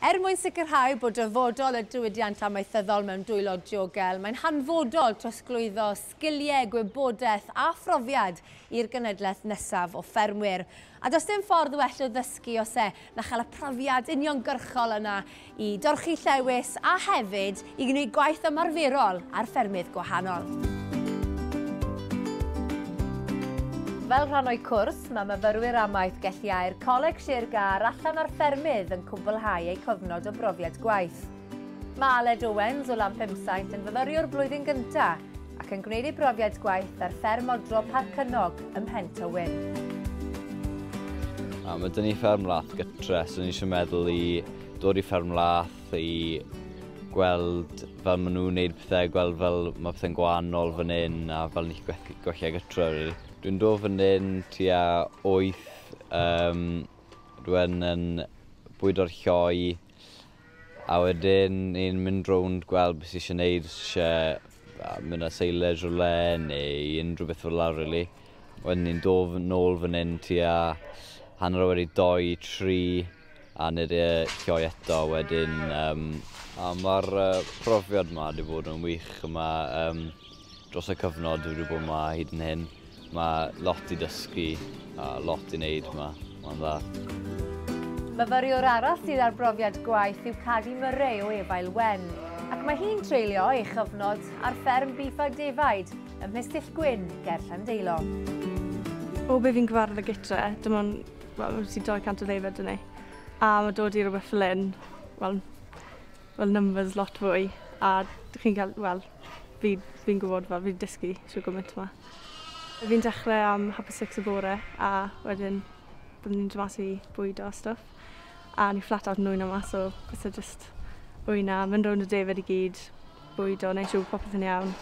Er mwyn sicrhau bod dyfodol y diwydiant amaethyddol mewn dwylo diogel, mae'n hanfodol trosglwyddo sgiliau, gwybodaeth a phrofiad i'r genhedlaeth nesaf o ffermwyr. A does dim ffordd well o ddysgu os e na chael y profiad uniongyrchol yna i dorchi llewys a hefyd i gwneud gwaith ymarferol ar ffermydd gwahanol. Fel rhan o'u cwrs, mae myfyrwyr amaeth gelliau'r Coleg Sir Gâr allan ar ffermydd yn cwblhau eu cofnod o brofiad gwaith. Mae Aled Owens o Lanpemsaint yn fyfyriwr blwyddyn gyntaf ac yn gwneud ei brofiad gwaith ar fferm odro Parc Cynog ym Mhen Tywyn. A mae dyn ni fferm lath gytre, so ni eisiau meddwl i dod i fferm lath, i gweld fel maen nhw'n wneud pethau, gweld fel mae pethau'n gwahanol fan hyn a fel ni'n gallu gwella gytre rili. Dwi'n dod fan hyn tua wyth, um, dwi'n yn bwydo'r lloi a wedyn ni'n mynd rownd gweld beth sy'n eisiau gwneud, os eisiau mynd â seilers rhywle neu unrhyw beth fel la rili. Wedyn ni'n dod nôl fan hyn tua hanner wedi doi, tri. a nid e lloi eto wedyn um, a mae'r uh, profiad yma wedi bod yn wych yma um, dros y cyfnod wedi bod yma hyd yn hyn mae lot i dysgu a lot i wneud yma. Mae'n dda. Myfyriwr arall sydd â'r brofiad gwaith yw Cadi Murray o Efail Wen, ac mae hi'n treulio ei chyfnod ar fferm bif a defaid ym Mhestyll Gwyn ger Llandeilo. O be fi'n gyfarfod gytre, dim ond Wel wyt ti'n torri cant o ddeuddydd dwni a mae dod i rhywbeth fel hyn wel wel numbers lot fwy a dych chi'n cael wel fi fi'n gwybod fel fi'n dysgu trwy gymaint yma. Fi'n dechrau am half past six y bore a wedyn byddwn ni'n dod mas i bwydo a stwff a ni flat out yn nwyno mas so byse jyst wyna mynd rownd y defaid i gyd bwydo neu siw popeth yn iawn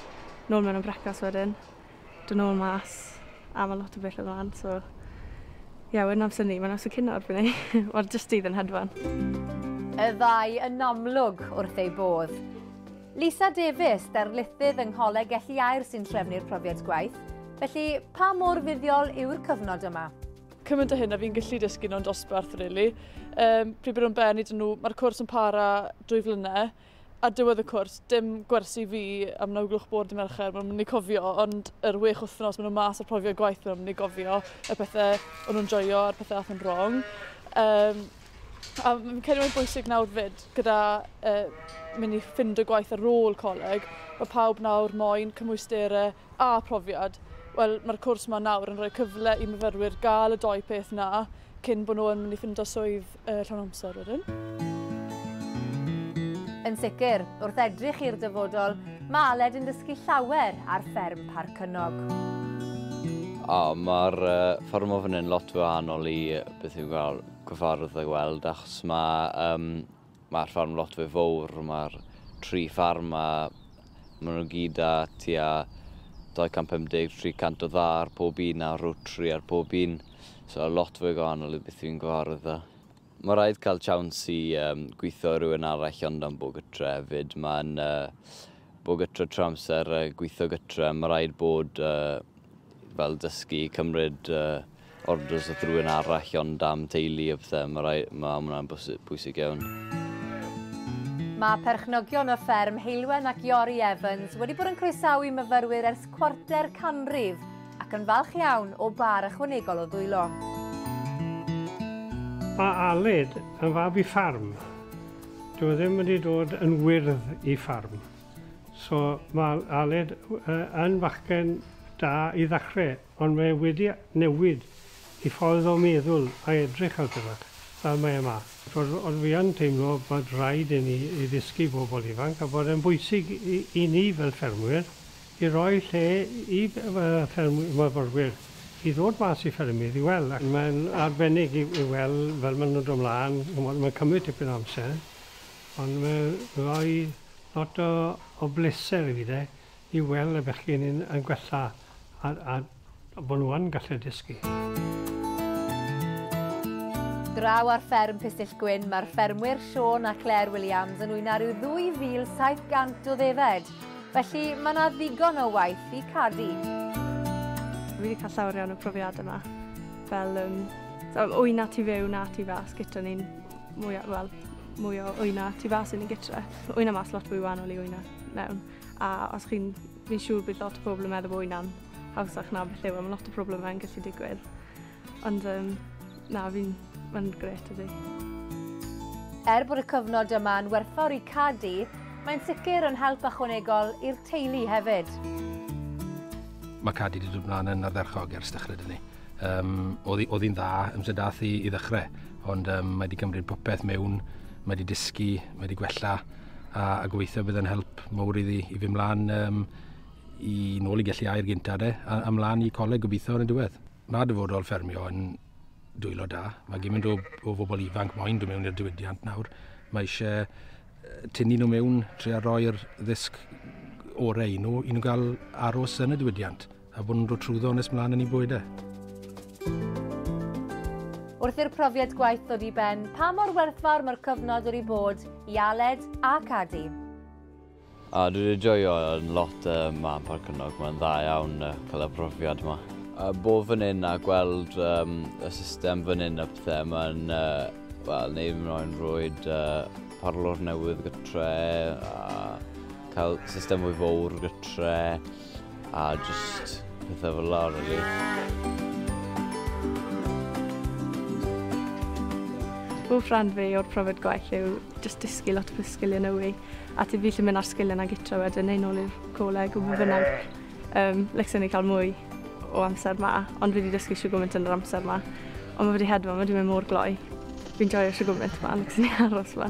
nôl mewn am brecwast wedyn. dod nôl mas a ma' lot o bethe mlan so ie wedyn amser 'ny ma' amser cino erbyn 'ny wel jyst dydd yn hedfan. Y ddau yn amlwg wrth eu bodd. Lisa Davies, darlithydd yng Ngholeg Elli Aur sy'n trefnu'r profiad gwaith, felly pa mor fuddiol yw'r cyfnod yma? Cymaint o hyn a fi'n gallu dysgu nhw'n dosbarth, really. Um, pryd bod nhw'n benni dyn nhw, mae'r cwrs yn para dwy flynedd, Ar diwedd y cwrs, dim gwersi fi am naw gloch bore dy Mercher, mae'n mynd i cofio, ond yr wech wythnos maen nhw mas ar profiad gwaith maen nhw'n mynd i gofio y pethau o'n nhw'n joio a'r pethau ath yn wrong. Um, a fi'n credu mae'n bwysig nawr fyd, gyda uh, mynd i ffind y gwaith ar ôl coleg, mae pawb nawr moyn cymwysterau a phrofiad, wel mae'r cwrs yma nawr yn rhoi cyfle i myfyrwyr gael y doi peth na cyn bod nhw yn mynd i ffindo swydd uh, llawn amser wedyn. Yn sicr, wrth edrych i'r dyfodol, mae Aled yn dysgu llawer ar fferm Parc Cynnog. O, mae'r uh, fferm o fan hyn lot wahanol i beth yw'n cael cyfarwydd a gweld, achos mae um, Mae'r ffarm lot fwy fawr, mae'r tri ffarm 'ma, maen nhw gyd â tua 250, 300 o dda ar pob un a rotary ar pob un, so lot fwy gwahanol i beth fi'n gyfarwydd â. Mae rhaid cael chawns i um, gweithio rhywun arall ond am bod gytre hefyd. Mae'n uh, bod gytre trwy amser, uh, gweithio gytre, mae rhaid bod uh, fel dysgu, cymryd uh, orders o rhywun arall ond am teulu a pethau, mae rai, ma hwnna'n bwysig iawn. Mae perchnogion o fferm Heilwen ac Iori Evans wedi bod yn croesawu myfyrwyr ers cwarter canrif ac yn falch iawn o bar ychwanegol o ddwylo. Mae Aled yn fab i ffarm. Dwi ddim wedi dod yn wyrdd i ffarm. So mae Aled yn fachgen da i ddechrau, ond mae e wedi newid ei ffordd o meddwl a edrych ar bethau, fel mae e 'ma. Chimod, ond fi yn teimlo bod raid i ni i ddysgu bobl ifanc a bod e'n bwysig i ni fel ffermwyr i roi lle i ffermwyr, myfyrwyr, i ddod mas i ffermydd i weld. Mae'n arbennig i weld fel maen nhw'n dod 'mlaen, chimod, mae'n cymryd tipyn o amser. Ond mae'n rhoi lot o o bleser i fi 'de i weld y bechgyn yn yn gwella a a bo' nhw yn gallu dysgu. Draw ar fferm Pistyllgwyn, mae'r ffermwyr Siôn a Claire Williams yn wyna rhyw 2,700 o ddefed, felly mae 'na ddigon o waith i Cadi. Fi 'di cael llawer iawn o profiadau 'ma, fel yym, so wyna tu fewn a tu fas, gytre ni'n mwya-, wel, mwy o wyna tu fas yn y gytre. Wyna mas lot fwy wahanol i wyna mewn. A os chi'n, fi'n siŵr bydd lot o pobl yn meddwl bod wyna'n hawsach na beth yw, e, mae lot o problemau yn gallu digwydd. Ond um, na, fi'n, mae'n gret ydy. Er bod y cyfnod yma yn werthfawr i Cadi, mae'n sicr yn help ychwanegol i'r teulu hefyd. Mae Cadi wedi dod mlaen yn ardderchog ers dechrau dyn ni. Um, oedd hi'n dda amser dath i, i ddechrau, ond um, mae wedi cymryd popeth mewn, mae wedi dysgu, mae wedi gwella, a, a gobeithio bydd yn help mawr iddi i fy mlaen um, i nôl i gallu air gynta de, a, a mlaen i coleg gobeithio yn y diwedd. Mae dyfodol ffermio yn dwylo da. Mae gymaint o, o bobl ifanc moyn dod mewn i'r diwydiant nawr. Mae eisiau tynnu nhw mewn, trio roi'r ddysg orau i nhw, i nhw gael aros yn y diwydiant. A bod nhw'n dod trwyddo nes mlaen yn ei bwyd e. Wrth i'r profiad gwaith ddod i ben, pa mor werthfawr mae'r cyfnod wedi bod i Aled a Cadi? A dwi wedi joio yn lot uh, ma yn Parc Ynog, mae'n dda iawn uh, cael y profiad yma. A bod fan hyn a gweld um, y system fan hyn a pethau, mae'n uh, well, neu yn rhoi'n rwyd uh, parlwr newydd gytre a cael system fwy fawr gytre. A just pethau fel la, really. Hoff rhan fi o'r profiad gwaith yw just dysgu lot o sgiliau newydd a ti ffili mynd ar sgiliau na gytra wedyn neu nôl i'r coleg o be bynnag. Um, Lecsen ni cael mwy o amser ma, ond fi wedi dysgu siw gymaint yn yr amser ma. Ond mae wedi hedfa, mae wedi mynd mor gloi. Fi'n joio siw gymaint ma, lecsen ni aros ma.